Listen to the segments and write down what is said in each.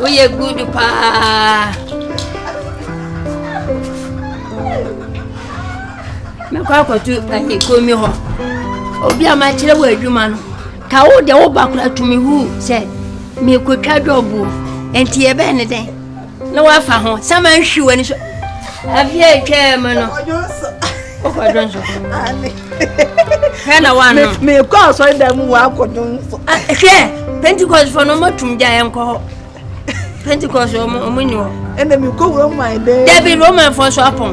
Woyɛ good paa. Mɛkɔ akɔto ɛyɛ komi hɔ. Obi a makyerɛ wɔ adwuma no. Ka wo deɛ wo ba kora tumi hu sɛ mekɔtwa dɔbo. Nti yɛbɛn ne dɛn? na wafa ho sɛ manhwe w'ani so afei a ɛtwaa mu no wokɔdwo nso hwɛ na woano mekɔ asɔre da mu wɔakɔdwo nso ah, hwɛ pentecostfoɔ no ɔmatum gya yɛnkɔ hɔ pentecost ɔmo nni hɔ ɛna mekɔ wura mu ayɛ dɛ dabi romanfoɔ so apɔn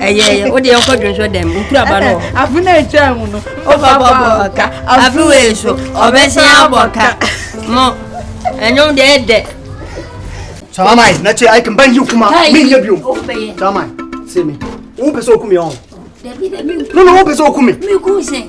ɛyɛ ɛyɛ o deɛ nkɔ dwonsɔ dɛm nkura ba no. afe na etwa mu no ɔba bɔ ɔka afe wo eso ɔbɛsɛn abɔ ka mo ɛnyɛm deɛ ɛdɛ. Salamai, na ce aikin ban yi kuma min ya biyo. Salamai, sai me. Wo pese okumi on. No no, wo pese okumi. Mi ku se.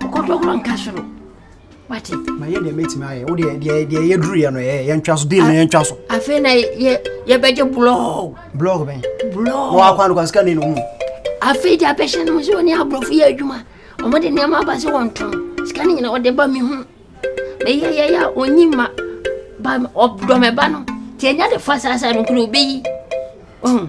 Ɔkɔdɔkɔ nka soro. Wate. Ma yɛ deɛ mɛtumi ayɛ. Wo deɛ deɛ deɛ yɛ duru yɛ no yɛ yɛ ntwa so deal no yɛ ntwa so. Afei na yɛ yɛ bɛgye blɔɔg. Blɔɔg bɛn. Blɔɔg. Wɔ akwan no kwa sika ne no mu. Afei deɛ abɛhyɛ no sɛ wɔne aborɔfo yɛ adwuma. Wɔn de nneɛma aba sɛ wɔn tɔn. Sika ne nyinaa wɔde ba mi ho. Meyɛ yɛ yɛ a onyi ma ba ɔdɔmɛba no. Tiɛ nya de fa saa saa no kuro obeyi. Ɔhun.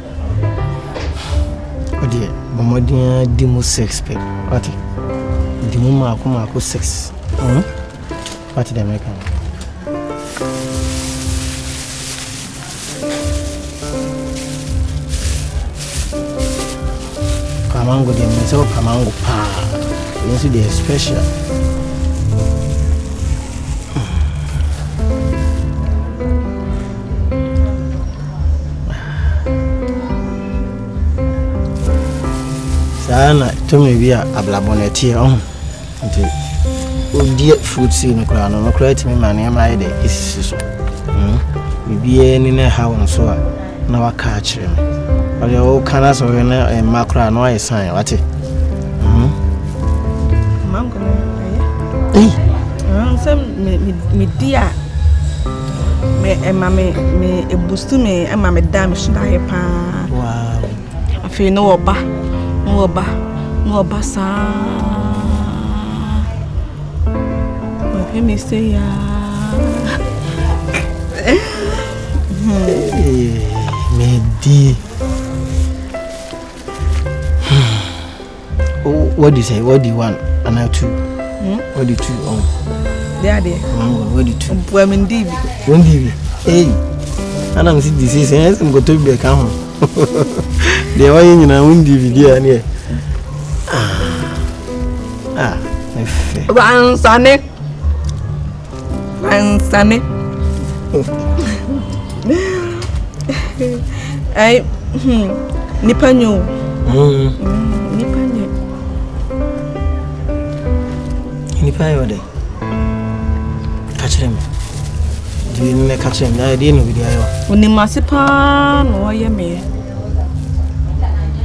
Ɔdeɛ bɔ mmɔden ara di mu six pɛ wate di mu mako mako six hmm? wate deɛ mɛka no kamango deɛ menim sɛ wɔ kamango paa ɛno nso deɛ special saa na tumi bi a ablabɔ na ɛteɛ ɔho nti wodie fruit seed no koraa no no koraa tumi ma nneɛma ayɛ dɛ ɛsisi so hmm? biribiaa ni no ɛha wo nso a na waka akyerɛ me ɔde woka no sɛ woyɛ no mma koraa na wayɛ san wate hmm? sɛ medi a Me ɛma me me ebusu me ɛma me da me so da yɛ paa. Wow. Afei no ɔba no ɔba no ɔba saa. Ɔhwɛ me sɛ yaa. Me di. wɔdi sɛ wɔdi one anaa two hmm? wɔdi two ɔn. Oh. de adeɛ. Hmm, wɔdi two. bua mi ndi bi. wɔn ndi bi ee ana mi si di sese ɛyɛ sɛ nkoto bi ɛka ho deɛ wɔyɛ nyinaa wɔn ndi bi di a neɛ ah ah ɛfɛ. wansane. Ansane. Ai, hmm, nipa nyo. Hmm. Nipa nyo. Nipa yɛ ɔdɛ. Ka kyerɛ me. Deɛ no na ka kyerɛ me. Na ɛdeɛ na obi de ayɛ o. Onim ase paa na ɔyɛ me.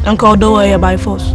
Anka ɔdɔ wɔ yɛ by force.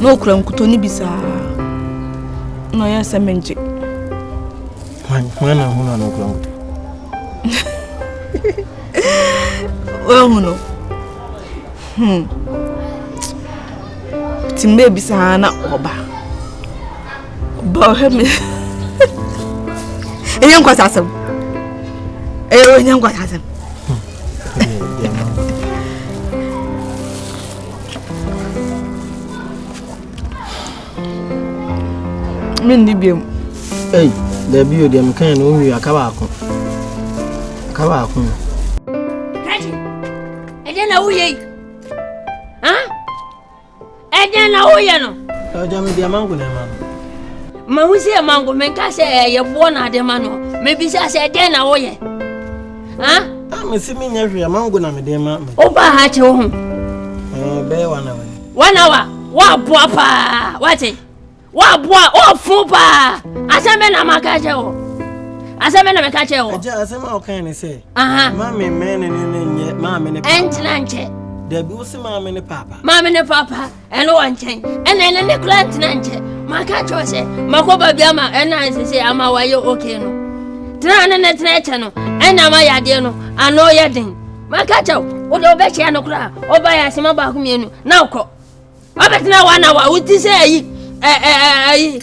na ɔkura nkutɔ no bi saa na ɔyɛ sɛ mengye na hunu ana ɔkura nkutɔ wahu no hmm. nti mmerɛ bi saa na ɔba ɔba ɔhwɛ me ɛnyɛ nkwasa asɛm ɛyɛ ɔnyɛ nkwasa asɛm menni biom ei daabi o deɛ mekae no wonwie aka baako aka baako no ɛdɛn na woyɛ yi ɛdɛn na woyɛ no agya me deɛ mango na ɛma no mahu sɛ mango menka sɛ ɛyɛ boɔ na ade ma no mebisa sɛ ɛdɛn na woyɛ a mese menyɛ hwee mango na mede ma me wofa ha kyɛ wo ho bɛyɛ wana wani wana wa woaboa paa wate woaboa woafo paa asɛm bɛ na maka kyɛ wo asɛm bɛ na meka kyɛ wo agya asɛm a wokae ne sɛ ma me mɛne ne ne nyɛ maame ne ɛntena nkyɛ dabi wo se maame ne papa maame ne papa ɛne wɔ nkyɛn ɛna ɛne ne kora ntena nkyɛ maka kyerɛ sɛ makɔ baabi ama ɛna ɛsɛ sɛ ama wayɛ okay no tena ne ne tena ɛkyɛ no ɛna ma yadeɛ no ano yɛ den maka kyerɛ wode wobɛhyia no koraa ɔba yɛ asɛma baako mmienu na wokɔ wabɛtena wa na wa woti sɛ ayi ɛyi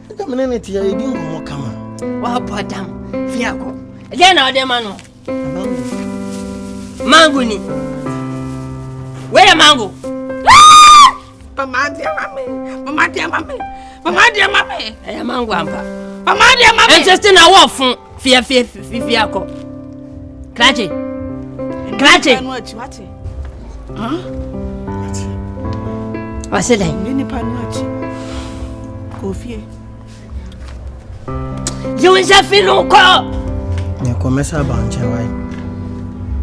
Ɛdɛ mene ne tia yɛdi nkɔmmɔ kama. Wabɔ adam fi akɔ. Ɛdɛ na ɔde ma no. Mango ni. Wei yɛ mango. Mama deɛ ma me. Mama deɛ ma me. Mama deɛ ma me. Ɛyɛ mango ampa. Mama deɛ ma me. Ɛnkyɛ sɛ na wɔfo. fia fia fia fia kɔ krakye krakye ɔse dɛn yi wo nsa fi no kɔ mekɔ mɛsɛ aba nkyɛn wae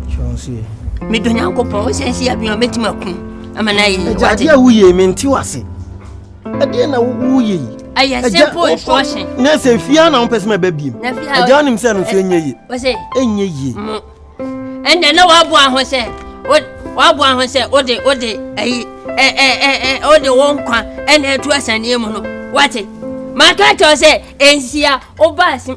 hwɛ wo nso ye medɔ nyankopɔn wo sɛ nsi abia mɛtumi akum ama no ayɛ yɛ wade a woyie mente wase ɛdeɛ na woyɛ yi ɛyɛ simple instruction na sɛ fie a na wopɛ sɛ mɛba biem agya wonim sɛ no nso ɛnyɛ ye ɛnyɛ ye ɛnɛ na woaboa ho sɛ woaboa ho sɛ wode wode ayi wode wo nkwa ɛna atu asaneɛ mu no wate maka kyɛw sɛ ɛnsia wobaa sem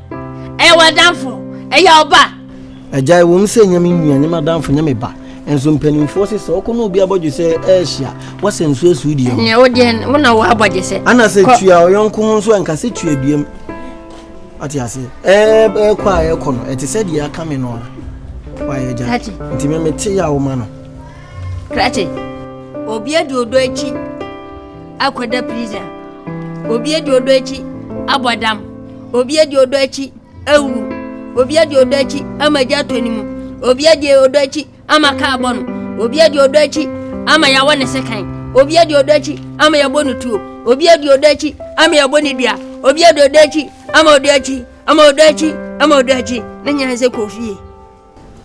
Ɛyɛ w'adamfo, ɛyɛ ɔba. Agya, ɛwɔ mu sɛ nyɛ me nua, nyɛ m'adamfo, nyɛ me ba. Nso mpanimfoɔ se sɛ ɔkɔ na obi abɔdwe sɛ ɛrehyia, wɔsɛ nso asuo deɛ ho. Nyɛ wo deɛ, wo na wɔabɔdwe sɛ. Ana sɛ tua ɔyɔnko ho nso ɛnka sɛ tua duam. Ate ase. Ɛɛkɔ a ɛkɔ no, ɛte sɛ deɛ aka me no a. Wayɛ agya. Nti me mete yɛ a woma no. Krakye, obi adi odɔ akyi. akɔda prison, obi adi ɔdɔ akyi abɔ dam, obi adi ɔdɔ akyi awuwu, obi adi ɔdɔ akyi ama gya atɔ ne mu, obi adi ɔdɔ akyi ama kaa bɔ no, obi adi ɔdɔ akyi ama yɛawɔ ne sekan, obi adi ɔdɔ akyi ama yɛabɔ no tuo, obi adi ɔdɔ akyi ama yɛabɔ ne dua, obi adi ɔdɔ akyi ama ɔdɔ akyi ama ɔdɔ akyi ama ɔdɔ akyi ne nyɛ sɛ kɔ fie.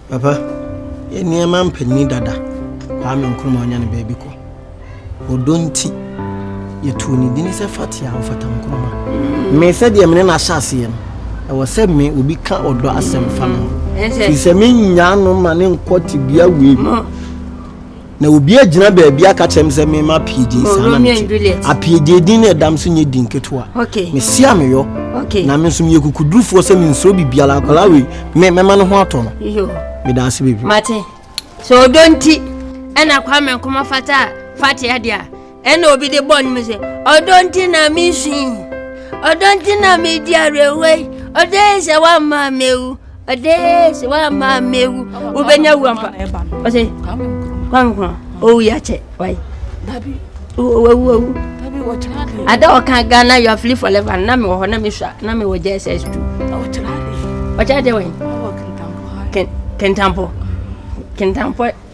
Papa, yɛn nneɛma mpanin dada, Kwame Nkrumah ɔnya ne baabi kɔ. Ɔdɔ nti, yɛtoo ne din sɛ Fatia Ɔfata Nkrumah. Me sɛdeɛ me ne no ahyɛ aseɛ no, ɛwɔ sɛ me obi ka ɔdɔ asɛm fa me ho, firi sɛ mennyaa no ma ne nkɔ tebea wei mu. Na obi agyina baabi aka kyerɛ me sɛ mema apiedie saa na mete apiedie din na ɛdam so nyɛ din ketewa mese a meyɔ na me nso meyɛ kukudurufoɔ sɛ mensuro biribiara akwadaa wei me mɛma no ho atɔ no meda ase bebree mate sɛ ɔdɔ nti ɛna kwa me nkɔmɔ fata fate adeɛ a ɛna obi de bɔ ne mu sɛ ɔdɔ nti na mesu yi ɔdɔ nti na medi awerɛhoɔ yi ɔdɔ yɛ sɛ woamma mewu ɔdɔ yɛ sɛ woamma mewu wobɛnya wu ampa ɔsɛ kwankwa ɔwu yɛakyɛ wae wawu wawu ada ɔka ghana you are free for life na mewɔ hɔ na mesua na mewɔ jss tu ɔkyerɛ deɛ wɛn kentampɔ kentampɔ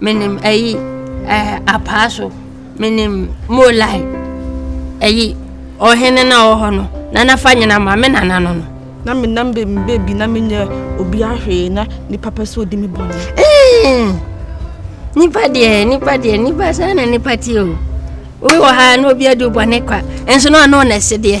Menim ayi ɛɛ apaaso. Menim molai. Ayi ɔhene na ɔwɔ hɔ no. Nana fa nyina ma me nana no no. Na me nam be me baby na me nyɛ obi ahwee na nipa pɛ sɛ odi me bɔne. Nipa deɛ nipa deɛ nipa saa na nipa tie o. Obi wɔ ha na obi adi bɔne kwa. Nso na ɔno na ɛse deɛ.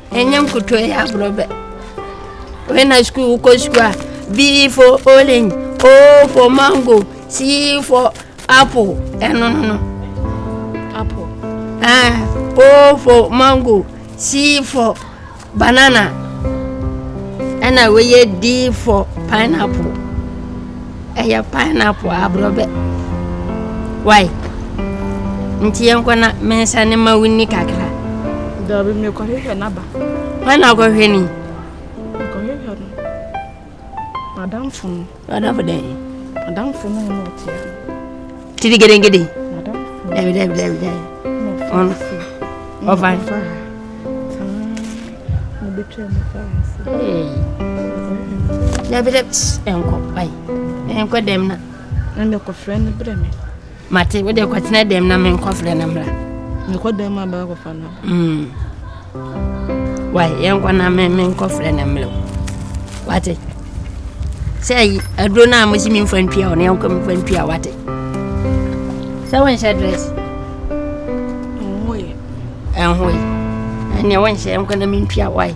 ɛnyɛ nkuto ɛyɛ agorɔ bɛ wei na sukuu wokɔ sukuu a b for orange o for mango c for apple ɛno no no apple ah, o for mango c for banana ɛna wɔyɛ d for pineapple Ɛyɛ pineapple aborɔbɛ. Why? Nti yɛnkɔ na mensa ne ma wonni kakra. Daabi mekɔhwehwɛ n'aba. Hwan na akɔhwɛ ni? Mekɔhwehwɛ no. Madamfo no. Madamfo dɛn? Madamfo no na ɔteɛ no. Tiri gedengede. Dabi dabi dabi dabi. Ɔno. Ɔfa. Dabi dabi ɛnkɔ ayi ɛnkɔ dɛm na. Ɛna kɔfrɛ no brɛ mi. Mate wo de kɔtena dɛm na menkɔfrɛ no mmra. Mekɔ dɛm abɛkɔfa no. Mm. Wai, yɛnkɔ na me menkɔfrɛ no mmerɛ wo. Wate? Sɛ ayi aduro no a mosi memfa ntua ɔne yɛnkɔ memfa ntua wate? Sɛ wonhyɛ dress? Ɛnhoe. Ɛnhoe. Ɛneɛ wonhyɛ yɛnkɔ na mentua wai.